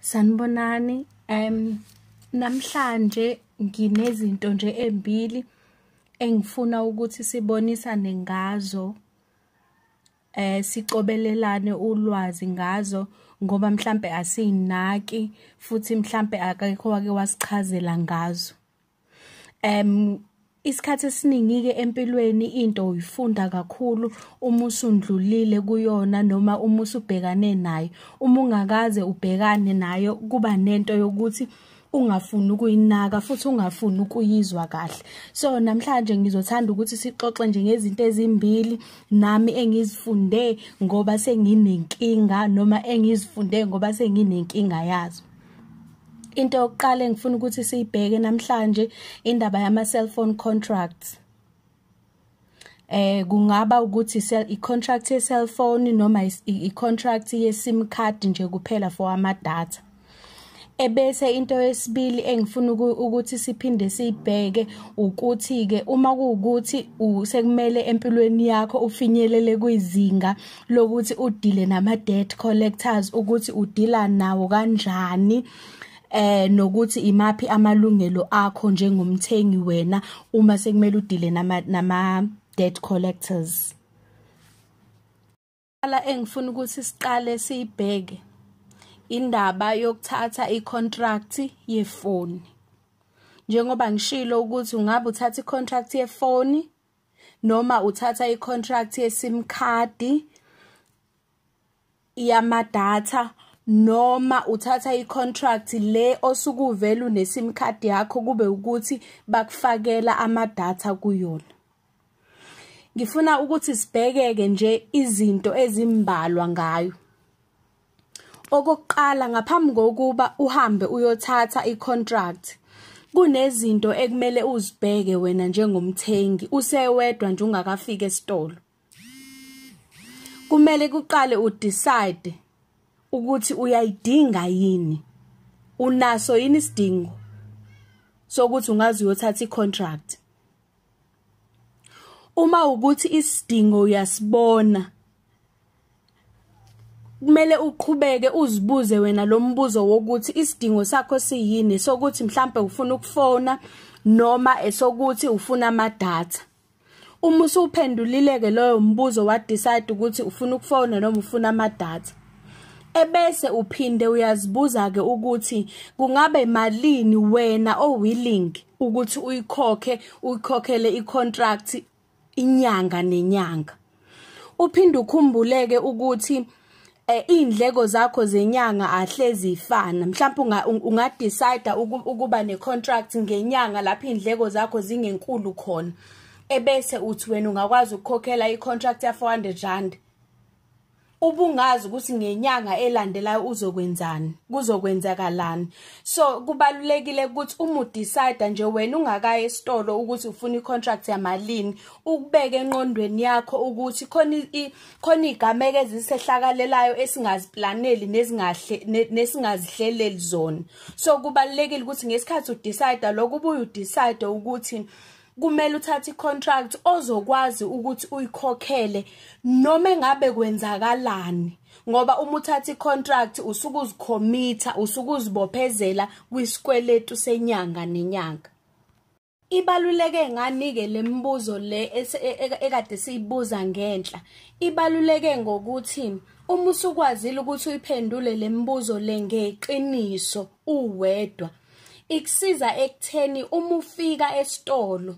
Sanibonani um namhlanje nginezinto nje embili engifuna ukuthi sibonisane ngazo eh sicobelelane ulwazi ngazo ngoba mhlambe asinaki futhi mhlambe akekho wake wasichazela ngazo um isikhathi esiningi-ke empilweni into uyifunda kakhulu uma usundlulile kuyona noma uma usubhekane nayo uma ungakaze ubhekane nayo kuba nento yokuthi ungafuni ukuyinaka futhi ungafuni ukuyizwa kahle so namhlanje ngizothanda ukuthi sixoxe nje ngezinto ezimbili nami engizifunde ngoba senginenkinga noma engizifunde ngoba senginenkinga yazo into yokuqala engifuna ukuthi siyibheke namhlanje indaba yama cell phone contracts eh kungaba ukuthi i contract ye cell phone noma i contract ye sim card nje kuphela for ama data ebese into yesibili engifuna ukuthi siphinde sibheke ukuthi ke uma kuwukuthi sekumele empilweni yakho ufinyelele kwizinga lokuthi udile nama debt collectors ukuthi udila nawo kanjani eh nokuthi imaphi amalungelo akho njengomthengi wena uma sekumele udile nama nama debt collectors ala engifuna ukuthi siqale siyibheke indaba yokuthatha icontract yefoni njengoba ngishilo ukuthi ungabe uthatha icontract yefoni noma uthatha i-contract ye-sim card yamadatha noma uthatha i-contract le osukuvela une-sim card yakho kube ukuthi bakufakela amadatha kuyona ngifuna ukuthi sibhekeke nje izinto ezimbalwa ngayo Okokuqala ngaphambi kokuba uhambe uyothatha icontract kunezinto ekumele uzibheke wena njengomthengi usewedwa nje ungakafiki esitolo. Kumele kuqale udecide ukuthi uyayidinga yini. Unaso yini isidingo sokuthi ungazi uyothatha icontract. uma ukuthi isidingo uyasibona kumele uqhubeke uzibuze wena lo mbuzo wokuthi isidingo sakho siyini sokuthi mhlambe ufuna ukufona noma esokuthi ufuna amadatha uma usuphendulile ke loyo mbuzo wa decide ukuthi ufuna ukufona noma ufuna amadatha ebese uphinde uyazibuza ke ukuthi kungabe malini wena owilling ukuthi uyikhokhe uyikhokhele icontract inyanga nenyanga uphinde ukhumbuleke ukuthi eh indleko zakho zenyanga ahlezi ifana mhlawumbe unga decide ukuba ne contract ngenyanga lapho indleko zakho zingenkulu khona ebese uthi wena ungakwazi ukukhokhela i contract ya 400 rand ubungazi ukuthi ngenyanga elandelayo uzokwenzani kuzokwenzakalani so kubalulekile ukuthi uma udecide nje wena ungakaye esitolo ukuthi ufuna icontract yamalini ukubeke enqondweni yakho ukuthi khona khona igameke ezisehlakalelayo esingaziplaneli nezingahle nesingazihleleli zona so kubalulekile ukuthi ngesikhathi udecide lokho ubuye udecide ukuthi kumele uthathe icontract ozokwazi ukuthi uyikhokhele noma engabe kwenzakalani ngoba uma uthatha icontract usuke uzikhomitha usuke uzibophezela kwisikweletu senyanga nenyanga ibaluleke nganike lemibuzo le e, e, ekade siyibuza ngenhla ibaluleke ngokuthi uma usukwazile ukuthi uyiphendule lemibuzo le ngeqiniso uwedwa ikusiza ekutheni uma ufika esitolo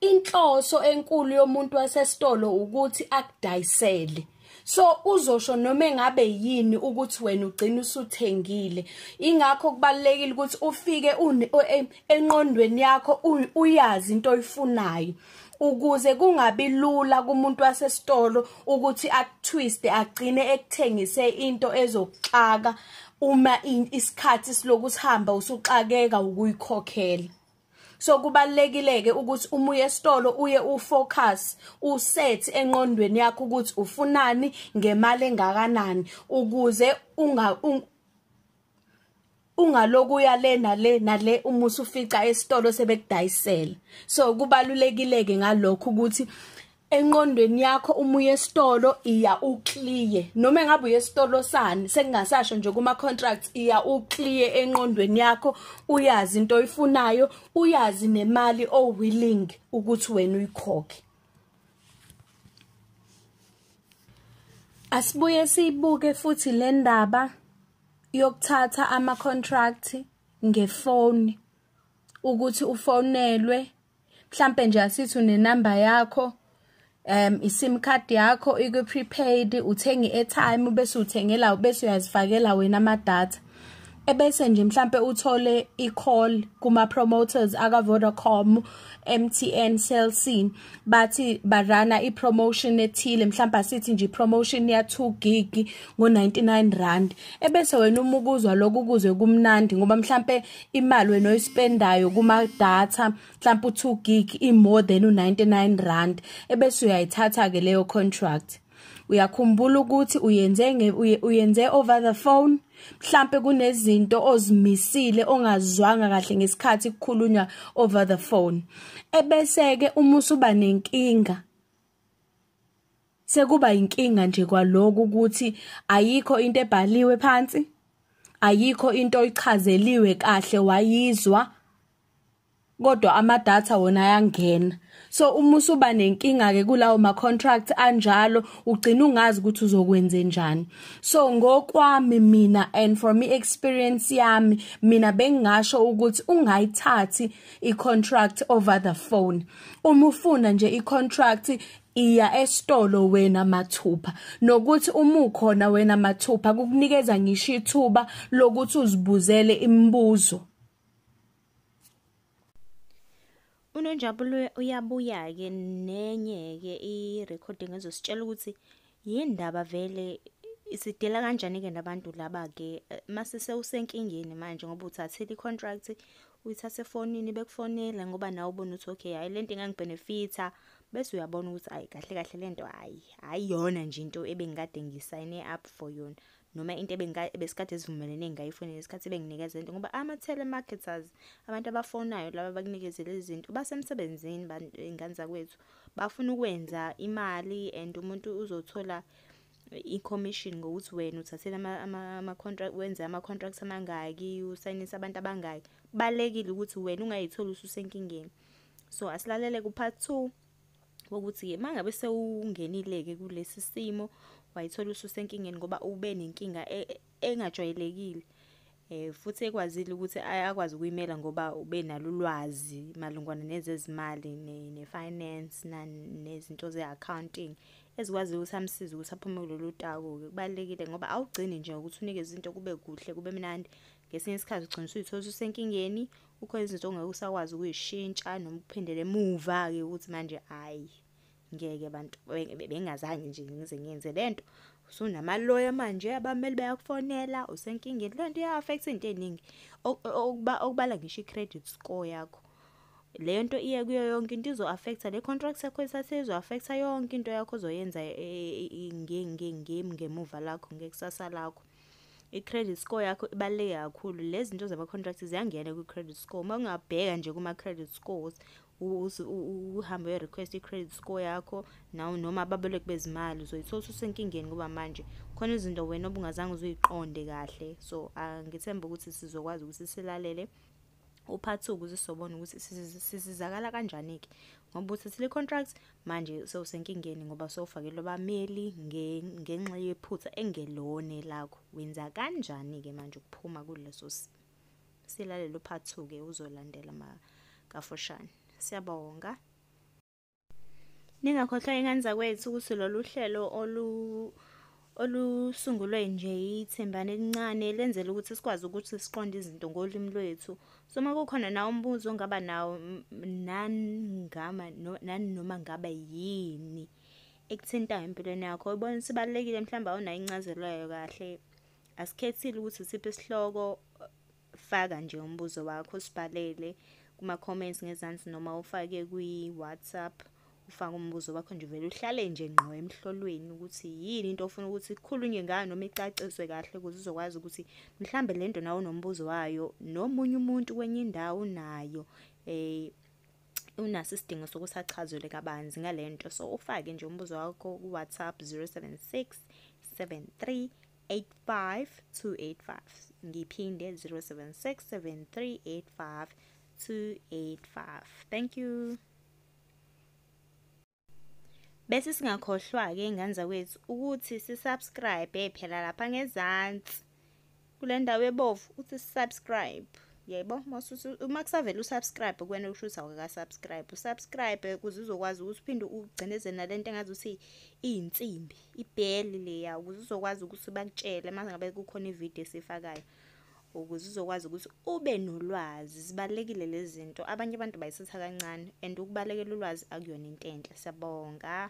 inhloso enkulu yomuntu wasesitolo ukuthi akudayisele so uzosho noma engabe yini ukuthi wena ugcina usuthengile ingakho kubalekile ukuthi ufike enqondweni yakho uyazi into oyifunayo ukuze kungabi lula kumuntu wasesitolo ukuthi akutwiste agcine ekuthengise into ezokuxaka uma isikhathi siloku sihamba usuxakeka ukuyikhokhela so kubalekileke ukuthi uma uye esitolo uye ufocus uset enqondweni yakho ukuthi ufunani ngemali engakanani ukuze unga ungalokuya le nale nale uma usufica esitolo sebekudayisela so kubalulekileke ngalokho ukuthi enqondweni yakho uma uye esitolo iya uclear noma engabe uye esitolo sani sekungasasho nje kuma contracts iya uclear enqondweni yakho uyazi into oyifunayo uyazi nemali o willing ukuthi wena uyikhokhe Asibuye siyibuke futhi le ndaba yokuthatha ama-contract ngefoni ukuthi ufonelwe mhlampe nje asithi unenamba yakho um iSIM card yakho ikwi-prepaid uthenga i-airtime bese uthengela bese uyazifakela wena ama-data. ebese nje mhlambe uthole i-call kuma-promoters aka-vodacom mtn cell c bathi barana i-promotion ethile mhlawumbe asithi nje i-promotion ya-two gig ngo-99 rand ebese wena uma ukuzwa lokho ukuzwe kumnandi ngoba mhlawumbe imali wena oyispendayo kuma-data mhlawumbe u-two gig i-more than u-99 rand ebese uyayithatha-ke leyo contract uyakhumbula ukuthi uyenze uyenze over the phone mhlambe kunezinto ozimisile ongazwanga kahle ngesikhathi kukhulunywa over the phone ebese ke uma usuba nenkinga sekuba inkinga nje kwaloku ukuthi ayikho into ebhaliwe phansi ayikho into oyichazeliwe kahle wayizwa kodwa ama data wona ayangena so uma usuba nenkinga ke kulawo ma contract anjalo ugcina ungazi ukuthi uzokwenze njani so ngokwami mina and from i experience yami mina bengingasho ukuthi ungayithathi i contract over the phone uma ufuna nje i contract iya esitolo wena mathupha nokuthi uma ukhona wena mathupha kukunikeza ngisho ithuba lokuthi uzibuzele imibuzo Unonjabulo uyabuya-ke nenye-ke i-recording ezositshela ukuthi yini ndaba vele sidela kanjani-ke nabantu laba-ke eh, mase sewusenkingeni manje ngoba uthathile i-contract uyithathe efonini bekufonela ngoba nawe ubona ukuthi okay hhayi le nto ingangibhenefitha bese uyabona ukuthi ayi kahle kahle le nto hhayi hhayi yona nje into ebengikade ngisayine up for yona noma into ebesikade sivumelene ngayifonela isikhathi benginikeza into ngoba ama-telemarketers abantu abafonayo laba bakunikezela izinto basemsebenzini iy'ngane zakwethu bafuna ukwenza imali and umuntu uzothola i-commission ngokuthi wena uthathele ama-contract wenze ama-contracts amangaki usayinise abantu abangaki balekile ukuthi wena ungayitholi ususenkingeni so asilalele ku-part two ukuthi mangabe sewungenileke kulesi simo wayithola ususenkingeni ngoba ube nenkinga e, e, engajwayelekile eh futhi ekwazile ukuthi akwazi ukuyimela ngoba ube nalulwazi malungwana nezezimali ne finance nezinto ze accounting ezikwazi ukuthi amsize ukuthi aphume kulolu taku ke kubalekile ngoba awugcini nje ukuthi unikeze into kube kuhle kube mnandi ngesinye isikhathi ugcina usuyithola usenkingeni kukhona izinto ongeke usakwazi ukuyishintsha noma ukuphindela emuva-ke ukuthi manje hhayi ngeke abantu bengazange nje ngize ngenze le nto usunamaloya manje abameli bayakufonela usenkingeni le nto iya-affect into ey'ningi okubala ngisho i-credit score yakho le nto iye kuyo yonke into izo-affecta le contract yakho esase izo-affecta yonke into yakho ozoyenza e, e, e, ngemuva lakho ngekusasa lakho i-credit score yakho ibaluleke kakhulu lezi zinto zama-contract ziyangena kwi-credit score uma ungabheka nje kuma-credit scores uhambe uyo-request i-credit score yakho naw noma ababoleki bezimali uzoyithola usenkingeni ngoba manje khona izinto wena obungazange uzuyiqonde kahle so angithembe ukuthi sizokwazi ukuthi silalele uphathuka uze sobona ukuthi sizizakala kanjani-ke ngoba uthathile i-contract manje sewusenkingeni ngoba sewufakelwe abameli ngenxa yephutha engelone lakho wenza kanjani-ke manje ukuphuma kuleso simo silalele uphathuke uzolandela makafushane siyabonga Ningakhohlwa ingane zakwethu ukuthi lolu hlelo olu olusungulwe nje yithembane elincane lenzela ukuthi sikwazi ukuthi siqonde izinto ngolimi lwethu. So uma kukhona nawo umbuzo ongaba nawo naningama nani noma ngabe yini ekuthintayo empilweni yakho ubona ukuthi ibalulekile mhlawumbe awunayo incazelo yayo kahle. Asikhethile ukuthi siphi isihloko faka nje umbuzo wakho sibhalele kuma comments ngezansi noma ufake kwi WhatsApp ufake umbuzo wakho nje vele uhlale nje ngqo emhlolweni ukuthi yini into ofuna ukuthi ikhulunywe ngayo noma icaciswe kahle ukuze uzokwazi ukuthi mhlambe lento nawo nombuzo wayo nomunye umuntu kwenye indawo nayo eh unaso isidingo sokuthi achazelwe kabanzi ngalento so ufake nje umbuzo wakho ku WhatsApp 076 73 85285 ngiphinde 0767385285 thank you bese singakhohlwa-ke ingane zakwethu ukuthi sisubscribe phela lapha ngezansi kule ndawo ebovu uthi subscribe yebo uma kusavele usubscribe kuwena usho ukuthi awukakasubscribe usubscribe kuze uzokwazi ukuthi uphinde ugcinezele nale nto engazi ukuthi iyinsimbi ibheli leya ukuze uzokwazi ukuthi bakutshele manje ngabe kukhona ivideo esifakayo ukuze uzokwazi ukuthi ube nolwazi zibalekile lezi zinto abanye abantu bayisitha kancane and ukubalekela ulwazi akuyona into enhle siyabonga